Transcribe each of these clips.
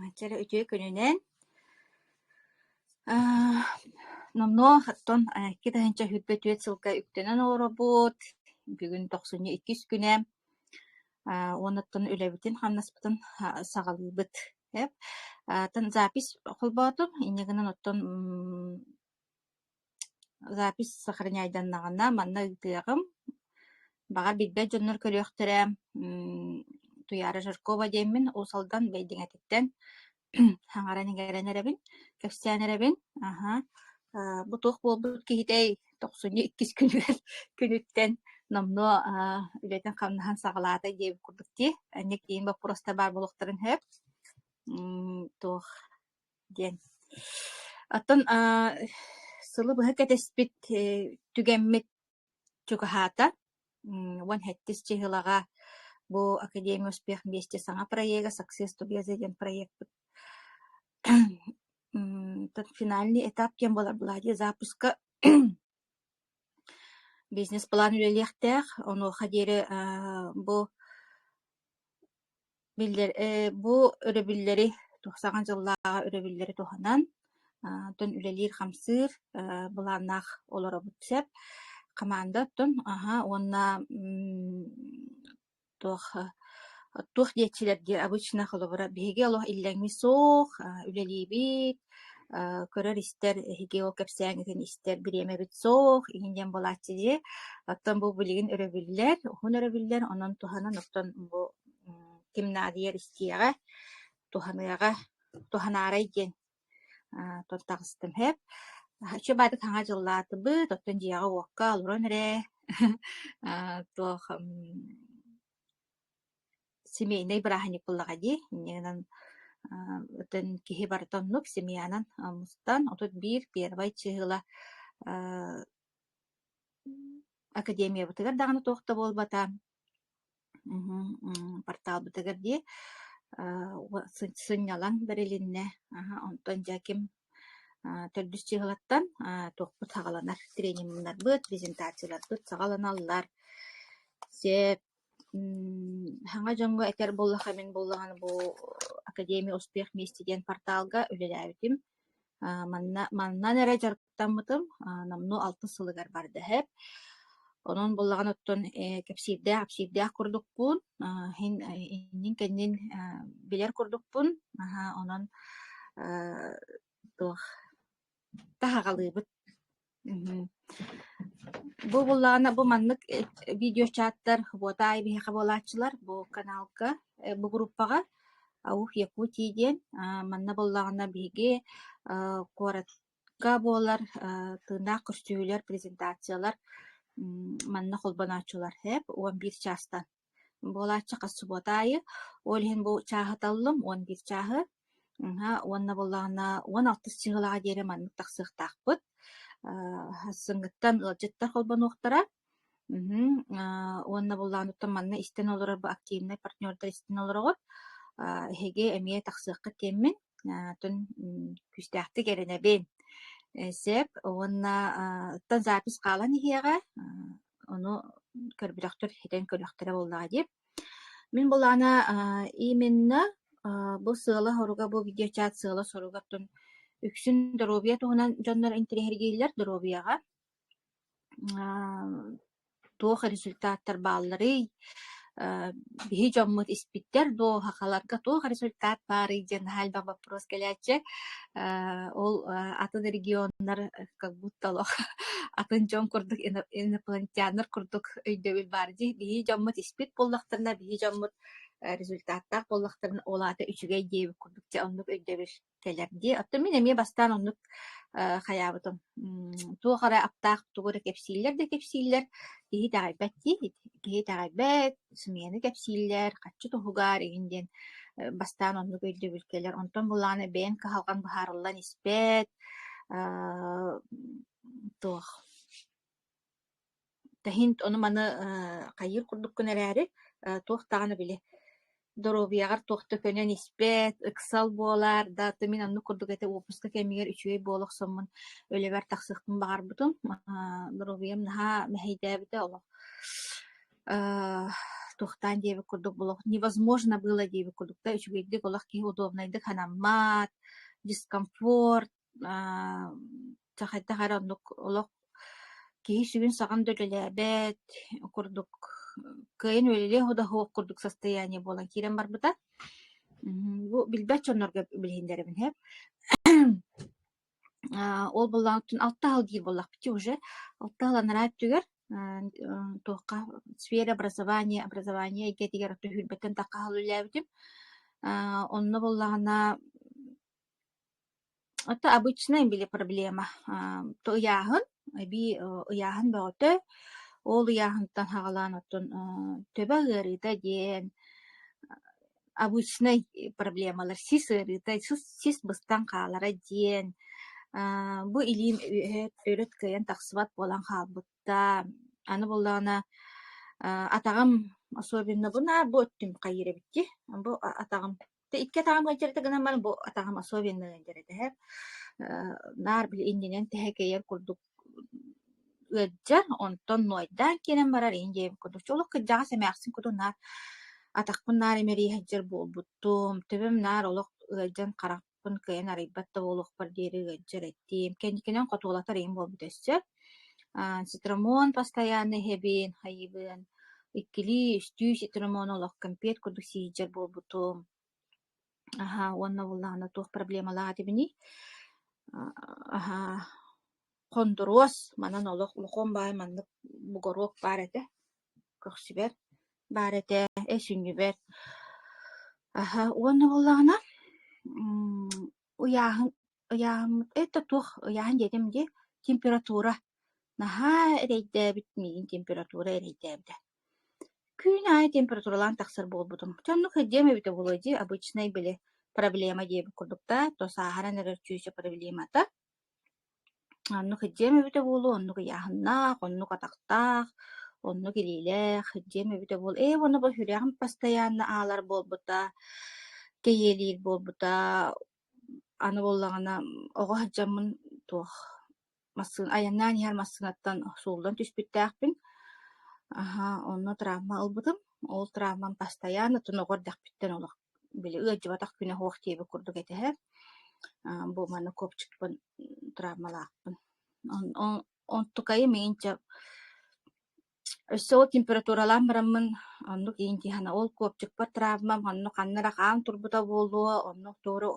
Ача эрэ үтүө күнүнэн номнуо оттон икки тыһыынча сүүрбэ түөрт сылга үктэнэн олоробут. Бүгүн тохсунньу иккис күнэ уонна оттон үлэбитин-хамнаспытын саҕалыыбыт. Атын запись холбоотум. Инньэ гынан оттон Запись сохраняйданнаҕына манна ыытыаҕым. Баҕар билбэт дьоннор көрүөхтэрэ. Ммм Туйаара Жаркова диэммин, Уус Алдан Бэйдиҥэтиттэн хаҥаран-иҥэрэн эрэбин, кэпсээн эрэбин. Аһа, аа бу туох буолбут киһитэй? Тохсунньу иккис күнүгэр күнүттэн номнуо аа үлэтин-хамнаһын саҕалаатай диэбит курдук дии. Инник иин боппуруоста баар буолуохтарын сөп. Ммм туох диэн. Оттон аа, сылы быһа кэтэспит э, түгэммит чугаһаата. М, Уон хэттис чыһылаҕа бу Академия успех вместе саҥа проега «Success together» диэн проекпыт м, тот финальный этап кем буолар буолаа дии запуска бизнес-план үлэлиэхтээх. Онуоха диэри аа, бу биллэр ээ бу өрөбүллэри тухсаҕын дьыллааҕы өрөбүллэри туһанан аа оттон үлэлиир-хамсыыр аа былааннаах олоробут сөп хамаанда оттон аһа уонна м туох туох диэччилэр диэ обычно холобура биһиги олох иллэҥи суох аа үлэлиибит аа көрөр-истэр эһиги ол кэпсээҥҥитин истэр бириэмэбит суох иһин диэн буолааччы дии оттон бу билигин өрөбүллэр уһун өрөбүллэр онон туһанан оттон бу ким наадыйар истиэҕэ, туһаныаҕа, туһанаарай диэн тута таҕыстымһэп. Чэ баатык хаҥа дьыллаатыбыт, оттон дьиэҕэ-уокка олорон эрэ туох семейнай бырааһынньык буллаҕа дии. Иннигинэн отон киһи барыта оннук семьянан мустан, отут биир первай чыһыла академиябытыгар даҕаны туох да буолбата Мм порталбытыгар дии аа сынньалаҥ бэрилиннэ аһа онтон дьэ ким аа төрдүс чыыһылаттан аа туохпут саҕаланар трениннарбыт презентацияларбыт саҕаланаллар сеп мм саҥа дьоҥҥо этэр буоллахха мин буоллаҕына бу академия успех вместе диэн порталга үлэлээбитим аа манна маннан эрэ аттаммытым номнуо алтыс сылыгар бардаһыт. Онон буллаҕын оттон кэпсиирдээх-апсиирдээх курдукпун, иһин иннин-кэннин билэр курдукпун, наһаа онон туох таһаҕалыыбыт. Бу буллаҕына бу маннык видеочааттар вот аайы биһиэхэ буолааччылар бу каналга, бу группаҕа Аух Якутии диэн манна буллаҕына биһиги куорат буолар тыыннаах көстүүлэр, презентациялар манна холбонооччулар эп уон биир чаастан буолааччы субуота аайы. Ол иһин бу чааһы таллым уон биир чааһы уонна буоллаҕына уон алтыс чыһылаҕа диэри маннык тахсыахтаахпыт. Сынгыттан ыалдьыттар холбонуохтара. Уонна буоллаҕына манна истэн олорор бу активнай партнердар истэн олороҕор эһиги эмиэ тахсыаххыт диэммин Аатын күүстээхтик эрэнэбин. Сеп уонна ыттан запись хаалан иһиэҕэ, ону көрбүтөхтөр этэн көрүөхтэрэ буоллаҕа диир. Мин былаана именно бу сыала-соруга, бу видеочат сыала-соругаттан үксүн доруобуйа туһунан дьоннор интириэһиргииллэр доруобуйаҕа. туох результаттар баалларый э биһи дьоммут испиттэр дуо сахаларга туох результат баарый диэн наһаа элбэх боппуруос кэлээччи э ол атын регионнар как будто олох атын дьон курдук инопланетяннар курдук өйдөбүл баар дии биһи дьоммут испит буоллахтарына биһи дьоммут результаттаах буоллахтарына ол аата үчүгэй диэбит курдук дьэ оннук өйдөбүл кэлэр дии. Оттон мин эмиэ бастаан оннук э, хайаабытым. М, Туох эрэ аптаах тугу эрэ кэпсииллэр да кэпсииллэр. Киһи итэҕэйбэт дии. Киһи итэҕэйбэт, сымыйаны кэпсииллэр, хаччы туһугар игин диэн э, бастаан оннук өйдөбүл кэлэр. Онтон булаана бэйэҥ кыһалҕаҥ быһаарыллан испэт, э, туох Тэһин ону-маны хайыыр курдук гын эрээри, туох даҕаны били доруобуйаҕар туох да көнөн испэт, ыксал буолаар да ты мин оннук курдук этэ уоппуска кэмигэр үчүгэй буола охсоммун үлэбэр тахсыахпын баҕарбытым. Доруобуйам наһаа мэһэйдээбитэ олох туохтаан диэбит курдук невозможно было диэбит курдук да үчүгэйдик олох киһи удобнайдык санаммат, дискомфорт Аа, ча хайдах эрэ оннук олох киһи сүгүн-саҕан да үлэлээбэт курдук кыайан үлэлиэ оһо да оһох курдук состояние буолан киирэн барбыта. Мм, бу билбэт дьоннорго билиһиннэрэбин иһэ. Аа, ол боллоҕуттан алта ыал диир буоллахпытый уже. Алта ыал анараа өттүгэр аа, э, туохха сфера образования, образование эйгэтигэр оту сүүрбэттэн тахха ыал үлэлээбитим. Аа, онно буоллаҕына Это обычная были проблема. Ам, то ыйааһын, эбии э, ыйааһын бөҕөтө. Ол ыйааһынтан хаҕалаан оттон э, төбө ыарыыта диэн обычнай проблемалар сис ыарыыта, сис, сис быстан хаалара диэн а, бу илиим үөһэ төрүт кыайан тахсыбат буолан хаалбытта. Аны буоллаҕына а, атаҕым особенно бу наар бу өттүм хайыра эбитти. Бу атаҕым Тэ икки атаҕым ыалдьар этэ гынан баран бу атаҕым особеннай ыалдьар этэ. Э, наар били иннинэн тэһэкэйэр курдук ыалдьар, онтон нуойдаан киирэн барар иһин диэбит курдук. Чэ олох кырдьаҕас эмээхсин куту наар атахпын наар имэрийэһэддьэр буолбуттум. Төбөм наар олох ыалдьан харахпын кыайан арыйбат да буолуохпар диэри ыалдьар этим. Кэнникинэн хотуолатар иһин буолбут өссө. Цитрамон постоянно иһэбин, хайыыбын, иккилии, үстүү цитрамону олох кэмпиэт курдук сиһийдьэр буолбутум. Аһаа, уонна убуллаана туох проблемалаах этибиний? Аһаа, хондуруос манан олох улахан баай маннык бугоруок баар этэ, көхсүбэр баар этэ, эсүнньүбэр. Аһаа, уонна убуллаана, уйааһын Ыйааһын это туох ыйааһын диэтим дии, температура. Наһаа эрэйдээбит миигин температура эрэйдээбитэ. Күн аайы температуралаан тахсар буолбутум. Чэ оннук сылдьыам эбитэ буолуо дии, обычнай били проблема диэбит курдук да, то сааһыран эрэр чүүчэ проблемата. Оннук сылдьыам эбитэ буолуо, оннук ыйааһыннаах, оннук атахтаах, оннук илиилээх сылдьыам эбитэ буол. Ээ уонна бу сүрэҕим постоянно аалар буолбута, кэйиэлиир буолбута, Аны буоллаҕына оҕо сылдьаммын туох массыына айаннаан иһэр массыынаттан сууллан түспүттээхпин. Аһа онно травма ылбытым. Ол травмам бастайаан оттонугу эрдэхпиттэн олох били ыалдьыбатах күнэ суох диэбит курдук этиһэр. Аа бу манна копчикпын травмалаахпын. Он он онтукайы миигин дьэ Өссө ол температуралаан бараммын оннук иинтиһана ол копчукпар травмам онно ханна эрэ хаан турбута буолуо, оннук тугу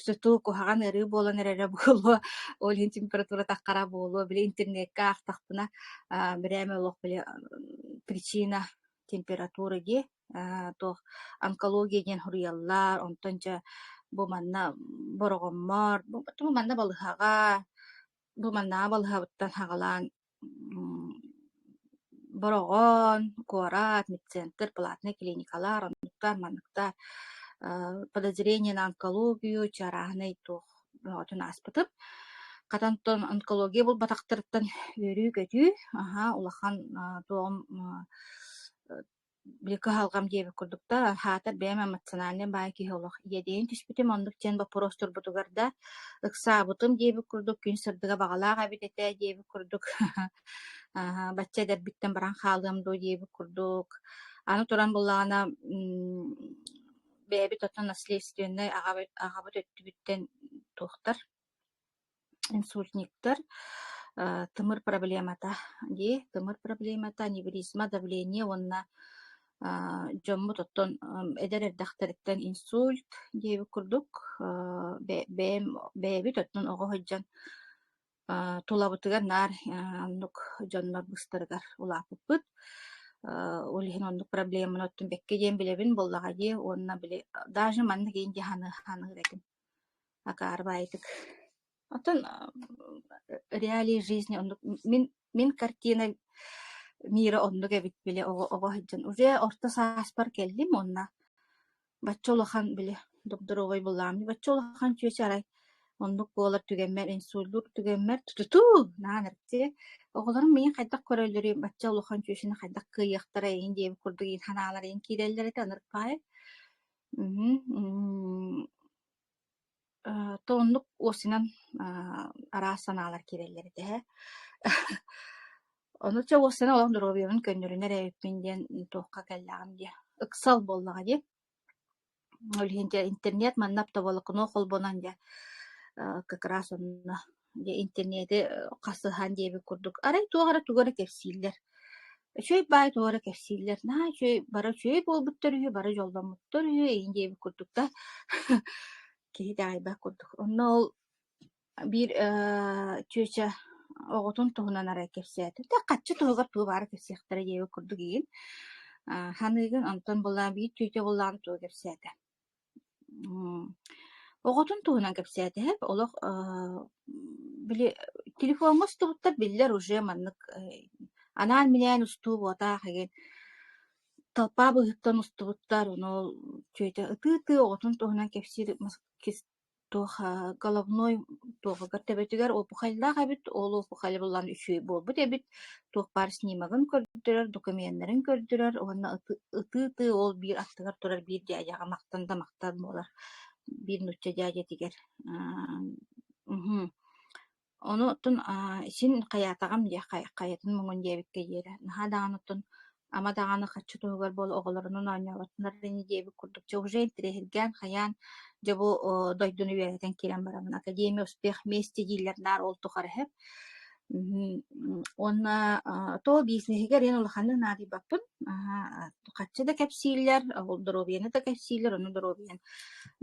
сытыы куһаҕан ырыы буолан эрэрэ буолуо, ол иһин температурата хара буолуо. Били интернекка аахтахпына аа бирээмэ олох били причина температура дии, аа туох онкология диэн суруйаллар, онтон дьэ бу манна бороҕоммор, бу манна балыһаҕа, бу маннааҕы балыһабыттан саҕалаан Бороҕон, куорат, медцентр, платная клиникалар, оннуктар, манныктар подозрение на онкологию чарааһынай туох бөҕөтүн ааспытым. Хатан тон онкология буолбатахтарыттан үөрүү-көтүү, аһаа, улахан туоҕум били кыһалҕам диэбит курдук да аһаатар бэйэм эмоциональнай баай киһи олох иэдэйэн түспүтүм оннук диэн боппуруостурбутугар да ыксаабытым диэбит курдук күн сырдыга баҕалаах эбит этэ диэбит курдук аһа бачча эдэрбиттэн баран хаалыам дуо диэбит курдук аны туран буллаҕына бэйэбит оттон наследственнай аҕабыт аҕабыт өттүбүттэн туохтар Инсультниктар тымыр проблемата дии, тымыр проблемата, аневризма, давление уонна дьоммут оттон эдэр эрдэхтэриттэн инсульт диэбит курдук бэйэм бэйэбит оттон оҕо сылдьан тулабытыгар наар оннук дьоннор быстарыгар улааппыппыт. Ол иһин оннук проблеманы оттон бэккэ диэн билэбин буоллаҕа дии уонна били даже манна киин дии саныыр этим Акаары баайытык. Оттон реалии жизни оннук мин мин картина мира оннук эбит били оҕо оҕо сылдьан уже орто сааспар кэллим уонна бачча улахан били докторуобай былааммын бачча улахан чүөчү арай оннук буолар түгэммэр инсуллуур түгэммэр тутутуу наан эрчи оҕолорум миигин хайдах көрөллөрүй бачча улахан чүөчүнү хайдах кыайыахтарай иһин диэбит курдук иһин санаалар иһин киирэллэр этэ ынырык баайы Мгм. М, э, то оннук уосинан аа, араас санаалар киирэллэр этэ иһэ. Ону чэ уосинан олох доруобуйабын көннөрүнэ эрэ эбиппин диэн туохха кэллэҕим дии. Ыксал буоллаҕа дии. Ол иһин дьэ интернет манна оптоволокно холбонон дьэ, э, как раз онно Дьэ интернети хасыһан диэбит курдук, арай туох эрэ тугу эрэ кэпсииллэр. Үчүгэй баай туох эрэ кэпсииллэр. Наһаа үчүгэй бара үчүгэй буолбуттар үһү, бара дьолломмуттар үһү эйин диэбит курдук да киһи даҕайбат курдук. Онно ол биир э, чүөчэ оҕотун туһунан арай кэпсээтэ. Да хачча туһугар тугу баара кэпсиэхтэрэ диэбит курдук игин. Саныыгын онтон буллаан биир чүөчэ буллаан тугу кэпсээтэ. М, оҕотун туһунан кэпсээтэһэ олох э, били телефоҥҥа устубуттар биллэр уже маннык э, анаан-минээн устуу буотаах игин толпаа быһыттан устубуттар ону чүөчэ ытыы-ытыы оҕотун туһунан кэпсиир мас- кис- Туоха головной туохугар төбөтүгэр опухайлаах эбит, ол опухайа булан үчүгэй буолбут эбит, туох баар снимогын көрдөрөр, докумиеннарын көрдөрөр уонна ытыы-ытыы ол биир аттыгар турар биир дядяҕа махтан да махтаан буолар, биир нуучча дядятигар мхм Ону оттон аа, син хайаатаҕым диэ хай хайатын муҥун диэбиккэ диэри наһаа даҕаны оттон ама даҕаны харчы туһугар буола оҕолорунан оонньооботтунар ини диэбит курдук дьэ уже интириэһиргээн хайаан дьэ бу о, дойдуну үөрэтэн киирэн бараммын академия успех месте дииллэр наар ол тухары эһэп Мм, уонна а, то бизнеһигэр эн улаханнык наадыйбаппын аһаа, харчы да кэпсииллэр ол доруобуйаны да кэпсииллэр ону доруобуйан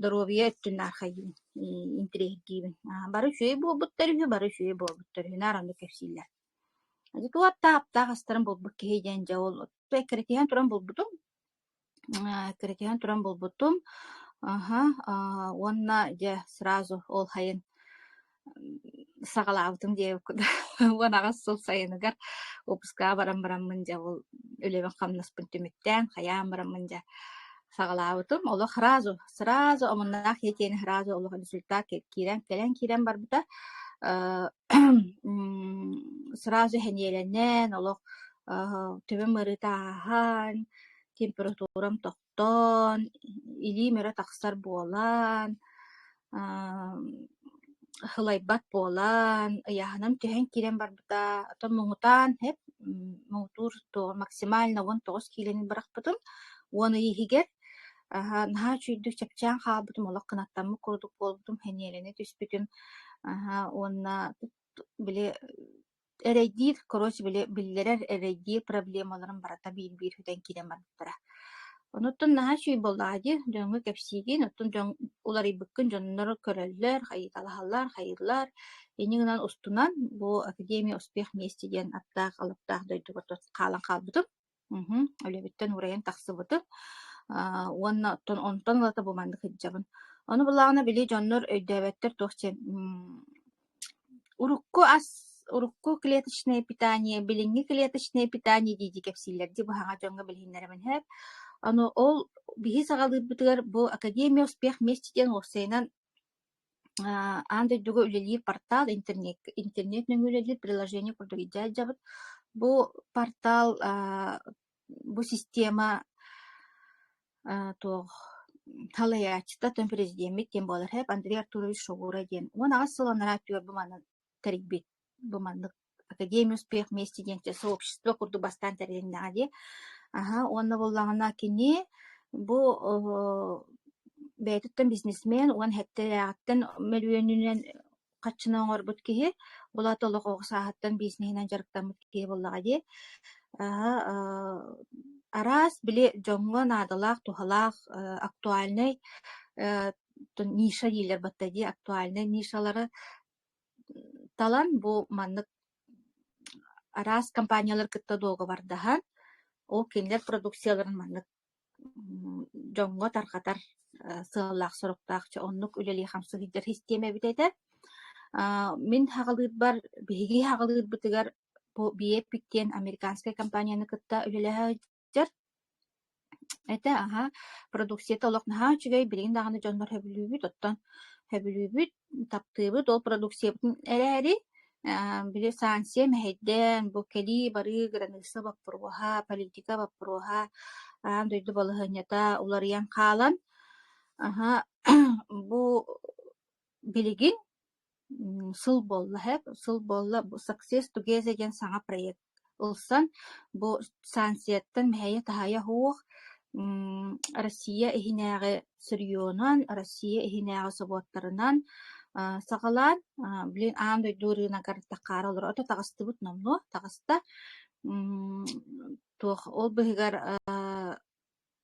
доруобуйа өттүн архайыыбын интриһиктиибин. Бары үчүгэй буолбуттар үһү, бары үчүгэй буолбуттар үһү. Наара кэпсииллэр. Дьэ, аптаах аптаах астарын булбут киһи диэн дьэ ол эккирэтиһэн туран булбутум. Эккирэтиһэн туран булбутум. Аха, уонна дьэ сразу ол хайын саҕалаабытым диэбит куда уон аҕас сыл сайыныгар выпускаҕа баран бараммын дьэ ол үлэбин хамнаспын түмүктээн хайаан бараммын дьэ саҕалаабытым. Олох сразу, сразу омуннаах Етиэни сразу олох результат киирэн, кэлэн киирэн барбыта. Э, м, сразу сэниэлэнэн, олох э, төбөм ырытааһан, температурам тохтоон, илиим өрө тахсар буолан, Һылайбат буолан, ыйааһынам түһэн киирэн барбыта. Оттон муҥутаан эп муҥутуур максимально уон тоҕус киилэни бырахпытым. Уон ый иһигэр наһаа үчүйдүк чэпчээн хаалбытым, олох кынаттаммыт курдук буолбутум, хэниэлэнэ түспүтүм. уонна били Эрэйдиир, короче, били биллэрэр эрэйдиир проблемаларын барыта биир-биир бүтэн киирэн барбыттара. Онуттан наһаа үчүгэй буоллаҕа дии, дьоҥҥо кэпсиигин, оттон дьон уларыйбыккын дьоннор көрөллөр, хайыталаһаллар, хайыылар. Ини гынан устунан бу Академия успех мести диэн аттаах-алаптаах дойдубар хаалан хаалбытым. Мгм. Үлэбиттэн уурайан тахсыбытым. Аа, уонна оттон онтон ылата бу маннык сылдьабын. Ону былаҕына били дьоннор өйдөөбөттөр туох диэн м, урукку ас, урукку клеточное питание, билиҥҥи клеточное питание дии дии кэпсииллэр дии быһаҕа дьоҥҥо билиһиннэрэбин иһэр. Аны ол биһи саҕалыырбытыгар бу Академия успех вместе диэн уопсайынан Аан дойдуга үлэлиир портал интернеккэ интернет нөҥүө үлэлиир приложение курдук идея дьабыт. Бу портал аа бу система аа туох салайааччыта, дьон президеммит диэн буолар эбит Андрей Артурович Шогура диэн. Уон аҕыс сыл анараа өттүгэр бу манан тэрийбит бу маннык Академия успех вместе диэн сообщество курдук бастаан тэрилиннэҕэ дии. Аһа, уонна буоллаҕына кини бу бэйэтиттэн бизнесмен уон хэттээҕиттэн мөлүйүөнүнэн хаччына оҥорбут киһи булата олох оҕо сааһыттан бизнеһинэн дьарыктаммыт киһи буоллаҕа дии. араас били дьоҥҥо наадалаах, туһалаах, актуальнай ниша дииллэр батта дии актуальнай нишалары талан бу маннык араас компаниялар кытта дуогабардаһан ол кинилэр продукцияларын маннык дьоҥҥо тарҕатар сыаллаах-соруктаах чэ оннук үлэлии-хамсаһыйдар систиэмэ эбит этэ мин хаҕалыырбар биһиги хаҕалыырбытыгар бу биэппик диэн американскай компанияны кытта үлэлэһэ Дьэр этэ, аһа, продукцията олох наһаа үчүгэй, билигин даҕаны дьонбор сөбүлүүбүт, оттон сөбүлүүбүт, таптыыбыт ол продукциябытын эрээри, э, били санкция мэһэйдээн, бу кэлии-барыы, граница боппуруоһа, политика боппуруоһа, аан дойду балаһыанньата уларыйан хаалан, аһа, бу билигин Сыл буолла иһэ, сыл буолла Success Together диэн саҥа проект ылсан бу станцияттан мэһэйэ-таһайа суох Россия иһинээҕи сырьёнунан, Россия иһинээҕи собуоттарынан саҕалаан, блин аан дойду ырыынагар тахаары олороото, таҕыстыбыт номнуо таҕыста. Туох ол быһыгар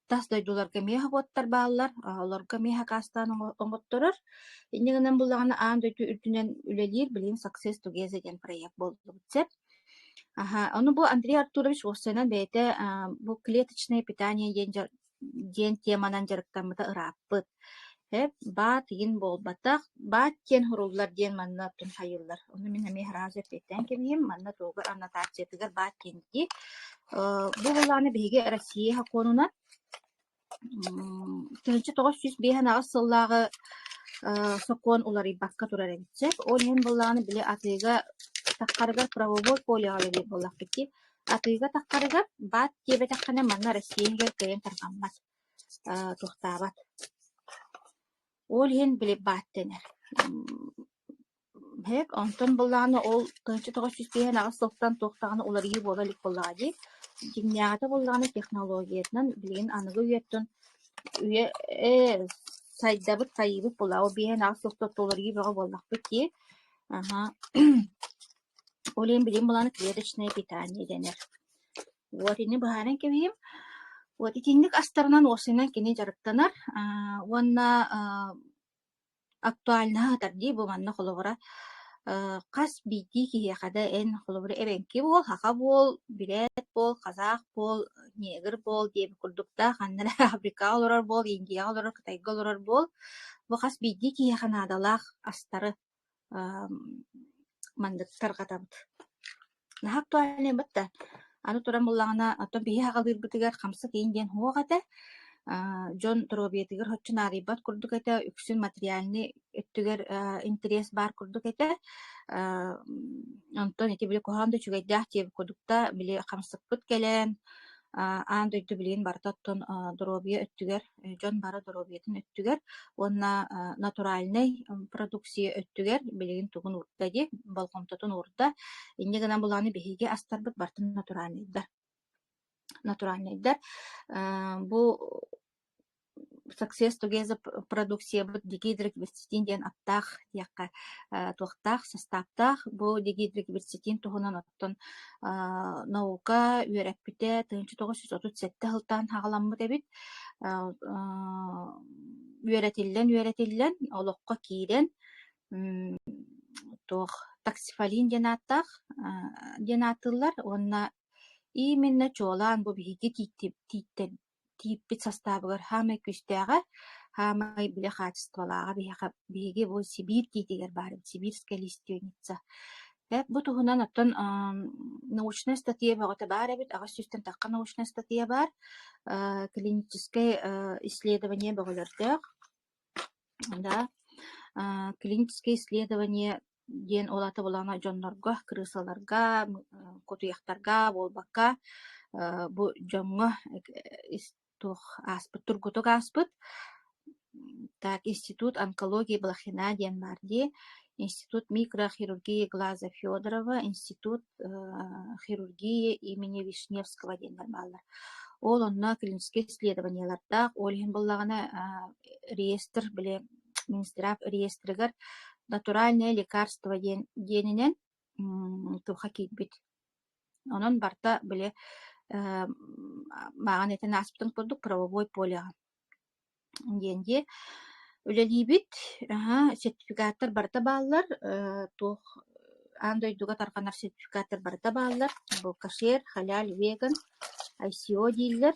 тас дойдуларга миэхэ угуттар бааллар, олорго миэхэ акаастаан оҥотторор. Инньэ гынан буоллаҕына аан дойду үрдүнэн үлэлиир билигин Success Together диэн проект буоллубут сөп. Аһа, ону бу Андрей Артурович уоссайынан бэйэтэ бу клеточное питание диэн диэн теманан дьарыктаммыта ырааппыт. Эп-баат иһин буолбатах, баат диэн суруллар диэн манна туһайыллар. Ону мин эмиэ сразу эппиэттээн кэбиһиим. Манна туһугар аннотациятыгар баат диэн дии. Э, бу былааны биһиги Россия һакуонунан тыһынча тоҕус сүүс биэһин аҕыс сыллааҕы э, сокуон уларыйбакка турар эбит сөп. Ол иһин былааны били атыыга таххарыгар правовой полеҕа үлэлиир буоллахпыт дии. Атыыга таххарыгар баат диэбэтэххинэ манна Россия иһигэр кыайан тарҕаммат. Аа туохтаабат. Ол иһин блевбаат дэнэр. Эһэк онтон былаана ол тоҕоччу-тоҕоччу сиһэн-аҕыс тохтон туох даҕаны уларыйыы буола илик буоллаҕа дии. Дьиҥнээҕитэ буоллаҕына технологиятынан билигин аныгы үйэттэн үйэ ээ сайдабыт, сайыыбыт буоллаҕа. Ол биһэн-аҕыс тохтотто уларыйыы бөҕө буоллахпыт дии. Аха. Ол иһин билигин былаана клеточное питание дэнэр. Вот ини быһааран кэбиһим. Вот итинник астарынан уопсайынан кини дьарыктанар аа уонна аа актуально сатар дии бу манна холобура э, хас биирдии киһиэхэ да эн холобура эбэҥки буол, саха буол, бүрээт буол, казах буол, негр буол диэбит курдуктаах, ханна эрэ Африкаҕа олорор буол, Индияҕа олорор, Кытайга олорор буол, бу хас биирдии киһиэхэ наадалаах астары маннык тарҕатабыт. Наһаа актуальнайбыт да, аны туран буллаҕына, оттон биһи саҕалыырбытыгар хамсык иин диэн суох этэ. Аа, дьон доруобуйатыгар соччо наарыйбат курдук этэ, үксүн материальнай өттүгэр интэриэс баар курдук этэ. онтон ити били куһаҕан да үчүгэйдээх диэбит курдук да, били хамсыкпыт кэлэн, аан дойду билигин барыта оттон доруобуйа өттүгэр дьон бара доруобуйатын өттүгэр уонна натуральнай продукция өттүгэр билигин тугун уурда дии болҕомтотун уурда инньэ гынан былааны биһиги астарбыт бартын натуральнайдар натуральнайдар бу success together продукциябыт дигидрик бирситин диэн аттаах диэххэ туохтаах састааптаах бу дигидрик бирситин туһунан наука үөрэппитэ тыһыынча тоҕус жүз отут сэттэ сылтаан саҕаламмыт эбит үөрэтиллэн үөрэтиллэн олоххо киирэн туох таксифалин диэн ааттаах диэн ааттыыллар уонна именно чуолаан бу биһиги тииппит састаабыгар саамай күүстээҕэ, саамай били хаачыстыбалааҕа биһиэхэ биһиги бу Сибиир тиитигэр баар эбит Сибирская лиственница. Дьэ, бу туһунан оттон аам научная статья бөҕөтө баар эбит. Аҕыс сүүстэн тахха научная статья баар. Э, клиническэй э, исследование бөҕөлөрдөөх. Да, э, клиническое исследование диэн ол аата былаана дьоннорго, кырыысаларга, кутуйахтарга буолбакка, бу дьоҥҥо туох ааспыт тургутук ааспыт так институт онкологии блохина диэн баар дии институт микрохирургии глаза федорова институт хирургии имени вишневского диэннэр бааллар ол онно клиническэй исследованиелардаах ол иһин буллаҕына реестр били Минздрав реестрыгар натуральное лекарство диэн диэнинэн туха киирбит. Онон барта били мааҕын этэн ааспытын курдук правовой полеҕа диэн дии үлэлиибит. Аһа, сертификаттар барыта бааллар. туох аан дойдуга тарҕанар сертификаттар барыта бааллар. Булкашер, халяль, веган, ICO дииллэр.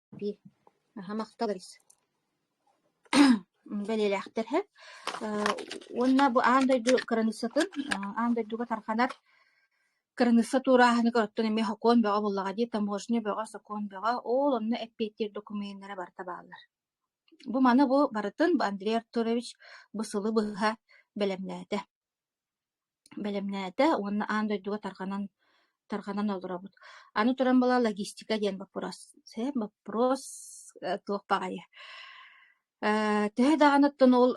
Аһа махталыбын бэлиэлээхтэр эһэ уонна бу аан дойду кыраныыссатын аан дойдуга тарҕанар кыраныысса туорааһыны көрөттөн эмиэ сокуон бөҕө буоллаҕа дии таможня бөҕө сокуон бөҕө ол онно эппиэттиир докумуеннара барыта бааллар бу маны бу барытын Андрей Артурович бу сылы быһа бэлэмнээтэ бэлэмнээтэ уонна аан дойдуга тарҕанан тарҕанан олоробут. Аны туран была логистика диэн боппуруос. боппуруос туох баҕайы. Э, төһө даҕаны оттон ол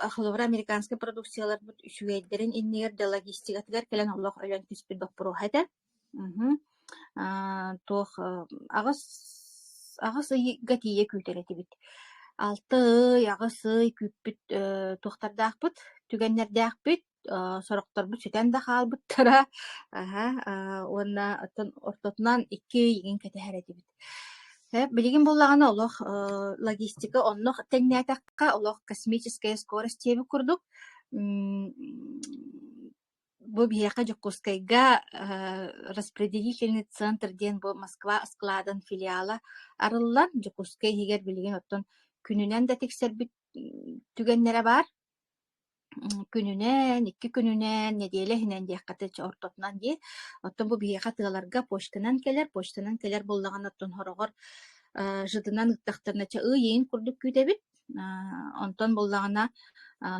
американскай продукцияларбыт үчүгэйдэрин иннигэр да логистикатыгар кэлэн олох ойон түспүт боппуруоһа этэ. Мгм. Аа, туох, э, аҕыс аҕыс ыйга тиийэ күүтэр этибит. 6 ый, аҕыс ый күүппүт, э, туохтардаахпыт? Түгэннэрдээхпит, э, сорохторбут сүтэн да хаалбыттара. Аһа, аа, уонна оттон ортотунан 2 ый игин кэтэһэр этибит. Э, билигин буоллаҕына олох, э, логистика онно тэҥнээтэххэ, олох космическая скорость диэби курдук, м, Бу биһиэхэ Дьокуускайга э, распределительный центр диэн бу Москва складын филиала арыллан, Дьокуускай иһигэр билигин оттон күнүнэн да тиксэрбит түгэннэрэ баар. күнүнэн, икки күнүнэн, нэдиэлэ иһинэн диэххэ ортотунан дии. Оттон бу биһиэхэ тыаларга почтанан кэлэр, почтанан кэлэр буоллаҕына оттон хороҕор э, жытынан ыыттахтарына ча ыйыйын курдук күүтэбит. Онтон буоллаҕына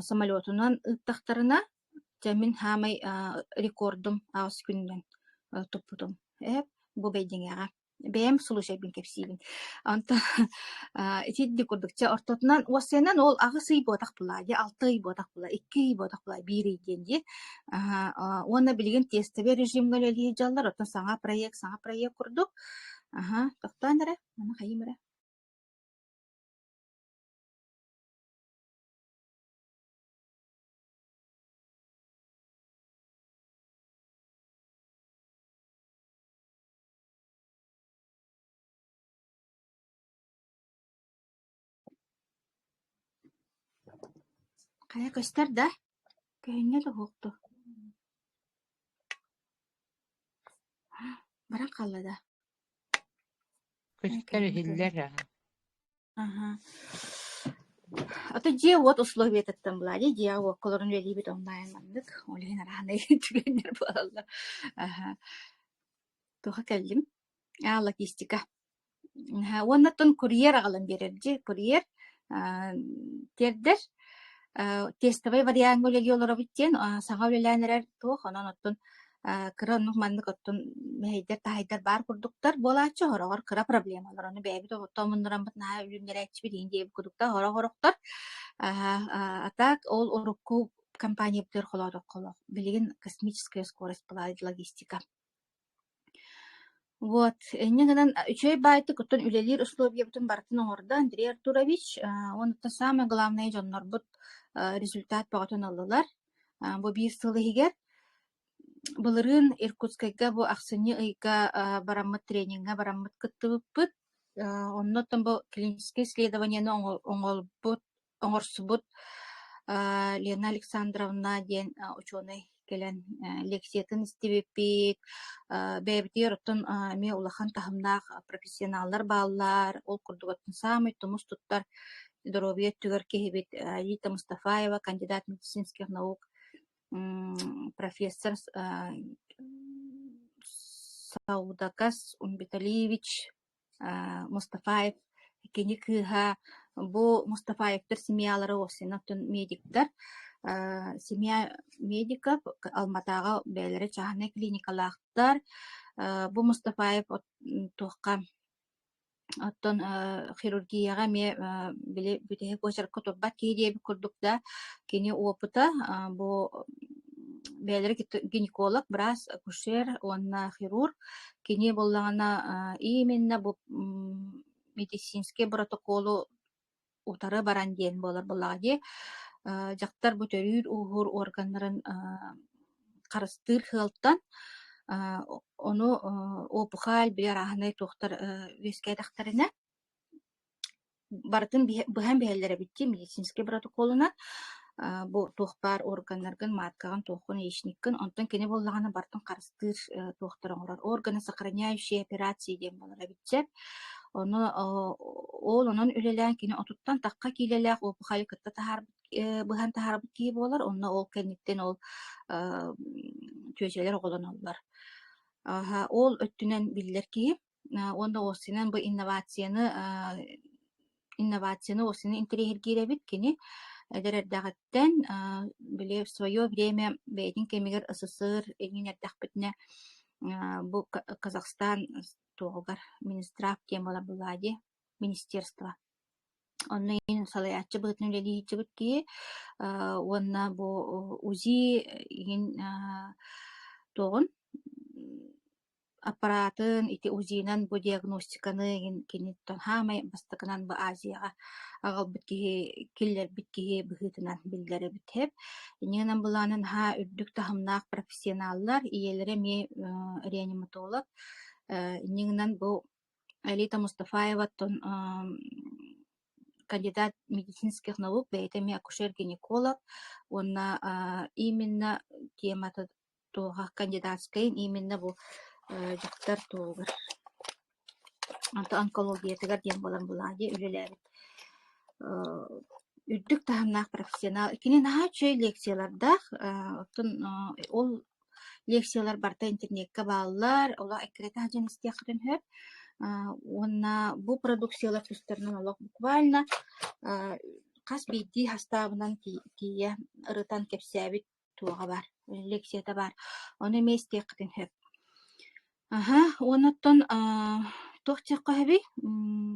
самолетунан ыыттахтарына Дьэ мин саамай рекордум аҕыс күнүнэн туппутум. Эһэм бу бэйдиҥэҕэ. Бэйэм слушайбын кэпсиибин. Онтон итинник курдук дьэ ортотунан уоссайынан ол аҕыс ый буотах былаа дии, алта ый буотах былаа, икки ый буотах былаа, биир ый диэн дии. Уонна билигин тестовый режимҥэ үлэлиир дьаллар, оттон саҥа проект, саҥа проект курдук. Аһа, тохтоон эрэ, маны хайыым эрэ. Хайа көстөр да, көһүнньэ туһуохту Баран хаалла да Көстөр иһиллэр аһа Аһа. Аты дьиэ-уот условиятыттан былаанньа дьиэ-уоккаларын үлэлиибит онлайн маннык. Ол иһин араанай түгэннэр буолаллар. Аһа. Туһа кэллим. Аа, логистика. Аһа. Уоннаттан курьер аҕалан биэрэрдии. Курьер аа, тиэрдэр. Аа, тестовый вариаҥҥа үлэлии олоробут диэн. Аа, саҥа үлэлээн эрэр туох, онон оттон Э, кыра оннук маннык оттон мэһэйдэр таһайдар баар курдуктар буолааччы сороҕор кыра проблемалар ону бэйэбит отту омуннураммыт наһаа үлүмнэрээччибит иһин диэбит курдуктаах хорох-хорохтор атак ол урукку компаниябытыгар холоотоххоло билигин космическая скорость была логистика Вот, инньэ гынан а, үчүгэй баайтык оттон үлэлиир условиебытын барытын оҥордо Андрей Артурович. А, Уонуттан саамай главное дьоннорбут а, результат бөҕөтүн ыллылар. А, Бу биир сыл иһигэр былырыын Иркутскайга бу ахсынньы ыйга а, бараммыт трениҥҥэ бараммыт кыттыбыппыт. А, Онно оттон бу клиническое исследованиены оҥо- оҥолбут оҥорсубут э, Лена Александровна диэн э, учуонай кэлэн э, лекциятын истибиппит, бэйэбитигэр оттон эмиэ улахан таһымнаах профессионаллар бааллар, ол курдук оттон саамай тумус туттар доруобуйа өттүгэр киһибит Рита Мустафаева, кандидат медицинских наук профессор Саудакас Умбиталиевич Мустафаев кини кыыһа бу Мустафаевтар семьялара Осинов медиктар семья медиков Алматаҕа бэйэлэрэ чааһынай клиникалаахтар бу Мустафаев туохха оттон хирургияҕа эмиэ били бүтэһик очеркка турбат киһи диэбит курдук да кини опыта бу бэйэлэрэ гинеколог быраас акушер уонна хирург Кини буоллаҕына, ииминнэ бу медицинский боротокуолу утары баран диэн буолар буоллаҕа дии. Дьахтар бу төрүүр-ууһуур органнарын харыстыыр сыалтан ону опухаль, били арааһынай туохтар үөскээтэхтэринэ барытын быһан биһэллэр эбит дии медицинскэй боротокуолунан бу туох баар органнаргын мааткаҕын туоххун яичниккын онтон кини буоллаҕына бартын харыстыыр туохтары оҥорор органы сохраняющие операции диэн буолар эбит сөп ону ол онон үлэлээн кини отуттан тахха киилэлээх уопухайы кытта таһаарбыт быһан таһаарбыт киһи буолар онно ол кэнниттэн ол чүөчэлэр оҕолоноллор ол өттүнэн биллэр киһи уонна осинан бу инновацияны инновацияны осины интэриэһиргиир эбит кини эдэр эрдэҕиттэн били в свое время бэйэтин кэмигэр СССР иҥин эрдэхпитинэ бу Казахстан туоҕугар министрав диэн буолан буллаа дии министерство онно иһин салайааччы быһыытын үлэлиһииччибит киһи уонна бу УЗИ иҥин туоҕун аппараатын ити УЗИ-нан бу диагностиканы кини саамай бастакынан бу Азияҕа аҕалбыт киһи киллэрбит киһи быһыытынан биллэр эбит иннинэн былаанын наһаа үрдүк таһымнаах профессионаллар ийэлэрэ эмиэ реаниматолог иннинэн бу Алита Мустафаеваттан кандидат медицинских наук бэйэтэ эмиэ акушер-гинеколог уонна именно темата Туоха кандидатскайын ииминнэ бу э дьахтар туоһугар. Онто онкологиятыгар диэн буолан былаадьа үлэлээбит э үрдүк таһымнаах профессионал. Кини наһаа үчүгэй лекциялардаах, э оттон э ол лекциялар барыта интернеккэ бааллар, олох эккирэтэ сылдьан истиэххитин сөп. Э уонна бу продукциялар тустарынан олох буквально э хас биирдии хастаабынан тиийэ ырытан кэпсээбит туоҕа баар, лекцията баар, ону эмиэ истиэххитин сөп. Аһа, уонна оттон аа, туох чеххоһэбий? М,